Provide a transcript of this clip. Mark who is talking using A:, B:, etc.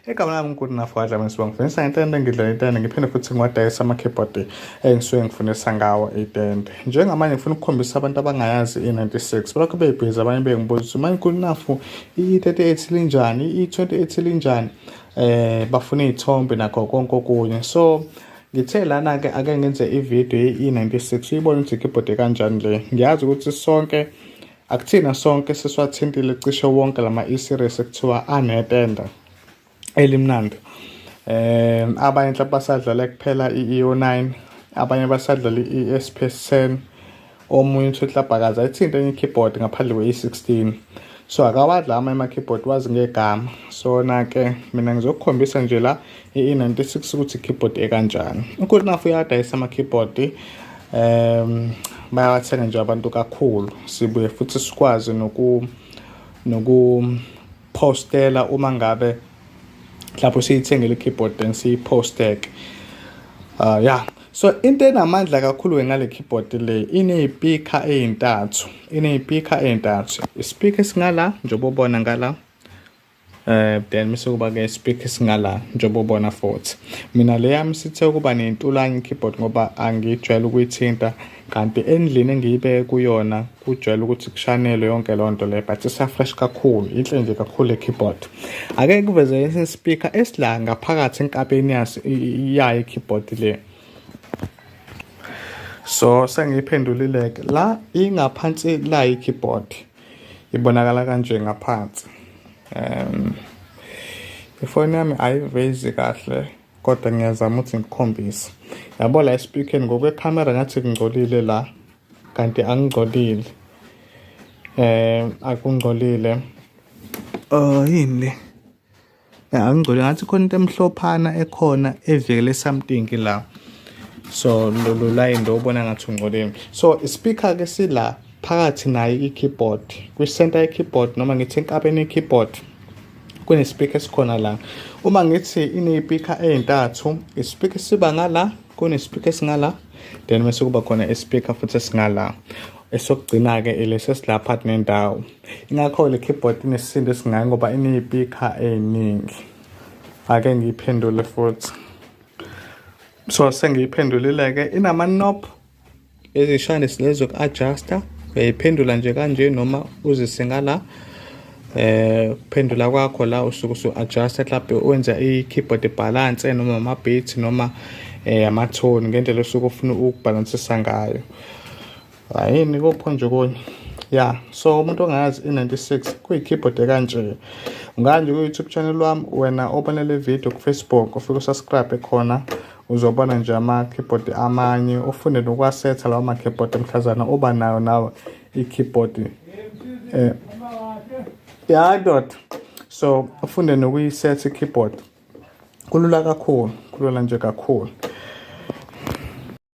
A: Igama lami ngikuthi nafwadla mina sibonga ngifundisa ngentende ngidlala intende ngiphinde futhi ngiwadayisa ama-keyboard engisuke ngifundisa ngawo itende njengamanje ngifuna ukukhombisa abantu abangayazi i-96 balokho beyibhizi abanye bengibuza ukuthi manje ngikuthi nafu i-38 linjani i-28 linjani um bafuna iy'thombe nakho konke okunye so ngithe lana-ke ake ngenze ividiyo ye-e96 uyibone ukuthi ikeyboard kanjani le ngiyazi ukuthi sonke Akuthina sonke siswathintile cishe wonke lama e-series ekuthiwa anetenda elimnandi. Eh abanye mhlawumbe basadlala kuphela i-EO9, abanye basadlala i-ESPS 10, omunye uthi uhlabhakaza ithinte enye keyboard ngaphandle kwe-E16. So akawadla ama keyboard wazi ngegama. Sona ke mina ngizokukhombisa nje la i-96 ukuthi i-keyboard ekanjani ugood enough uyadayisa ama-keyboard um bayawathenga nje abantu kakhulu sibuye futhi sikwazi noku nokuphostela uma ngabe lapho siyithengele i-keyboard then siyiphosteke uh, ah, ya so into enamandla kakhulu ngale keyboard le ineyipikha eyintathu ineyipikha eyintathu isipikha esingala njengoba ubona ngala Eh then mse kuba ke speak singala njengoba ubona futhi mina le yami sithe ukuba nentulanye keyboard ngoba angijwayele ukuyithinta kanti endlini engiyibeke kuyona kujwayele ukuthi kushanelwe yonke loo nto le but isafresh kakhulu inhle nje kakhulu le keyboard ake kuveze esinye speaker esila ngaphakathi enkabeni yaso yayo i-keyboard le so sengiyiphendulile-ke la ingaphansi la yi-keyboard ibonakala kanje ngaphansi um ifoni yami ayivezi kahle kodwa ngiyazama ukuthi ngikhombise yabo la espeakeni ngokwekhamera ngathi kungcolile la kanti angingcolile um akungcolile um yini le angigcole ngathi khona into emhlophana ekhona evikele something la so lolu line ndo ubona ngathi ungcoleni so ispeaker ke sila phakathi naye i-keyboard kwi-center ye-keyboard noma ngithi enkabeni ye-keyboard kunespeaker esikhona la uma ngithi ineyipikha ezintathu ispeaker siba ngala kunespeaker esingala then bese kuba khona ispeaker futhi esingala esokugcina-ke ilesi esilapha kunendawo ingakho le keyboard inesisindo esingayi ngoba ineyipikha ey'ningi ake ngiyiphendule futhi so sengiyiphendulile-ke inama-nop ezishane silezo ku-adjusta uyayiphendula nje kanje noma uzisinga la eh phendula kwakho la usuke usu adjust mhlawumbe wenza i keyboard balance noma ama beats noma eh ama tone ngendlela osuke ufuna ukubalansisa ngayo Hayini kopho nje konye. Yeah, so umuntu ongayazi i96 kuyi keyboard ekanje. Unganje ku YouTube channel wami wena obona le video ku Facebook ufike subscribe khona uzobona nje ama keyboard amanye ufunde nokwasetha lawo ma keyboard emhlazana oba nayo nawe i keyboard eh yeah dot so ufunde nokuyiset i keyboard kulula kakhulu kulula nje kakhulu